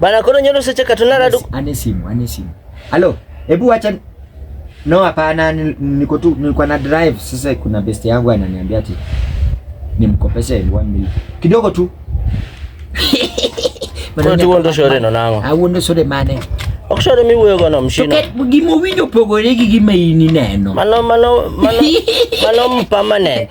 Bana kono nyono seche katuna radu. Ane simu, ane simu. Halo, hebu acha No, hapana, niko tu nilikuwa na drive. Sasa kuna best yangu ananiambia ati nimkopeshe 1 million. Kidogo tu. Bana tu ndo shore no nango. Au ndo shore mane. Okshore mi wuyo gono mshino. Tuket gimo winyo pogore gi gima ini neno. Mano mano mano mano permanent.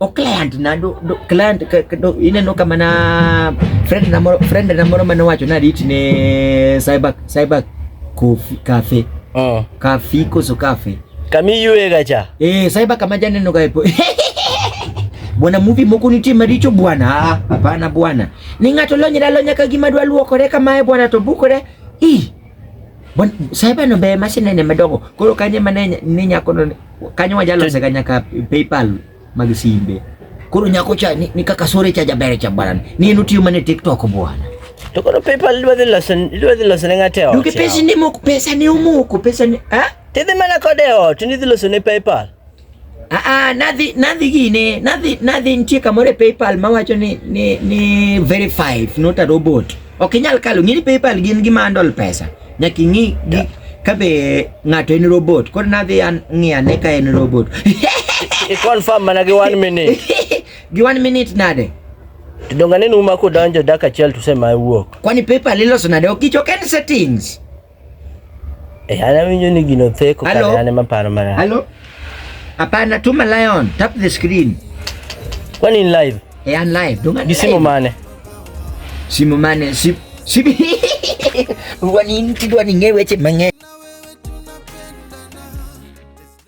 o client na do, do client ka, ka, do, ineno kama na friend na moro friend na moro mane wacho na rit ne cyber cyber coffee cafe oh. cafe koso cafe kami yue gacha eh cyber kama jana no gaipo bwana movie moko nitie maricho bwana ah, hapana bwana ni ng'ato lonyra lonya ka gima dwa luokore kamae bwana to bukore ih Cyber no be machine ne madongo. Koro kanye mane ni nyako no kanyo wajalose ga nyaka PayPal mag simbe. Koro nyako cha ni, ni kaka sore cha jabere cha bwana. Ni enu tiyo mane TikTok bwana. To koro PayPal dwa dhi loso dwa dhi loso ne ng'ate ot. Duke pesa ni moko pesa ni omoko pesa ni ah? Tidhi mana kode ot ni dhi loso ne PayPal. Ah, ah, nadhi nadhi gine nadhi nadhi nitie kamoro e PayPal mawacho ni ni ni verified not a robot. Ok inyal kalo ng'ini PayPal gin gi mandol pesa. Nyaka ing'i gi ka be ng'ato en robot. Koro nadhi an ng'i ane ka en robot. I confirm mana gi one minute. gi one minute nade? To donga neno uma kodonjo dakika achiel to sema wuok. Kwani PayPal iloso nade? Ok ichoke en settings. Eh, ana winyo ni gino theko Hello? kare ane maparo marach. Halo? Hapana, tuma Lion, tap the screen. Kwani in live? Eh, I'm live. Dunga Gi simu mane? Simu mane? Sim sim Wani nitidwa ningewe che mang'eny.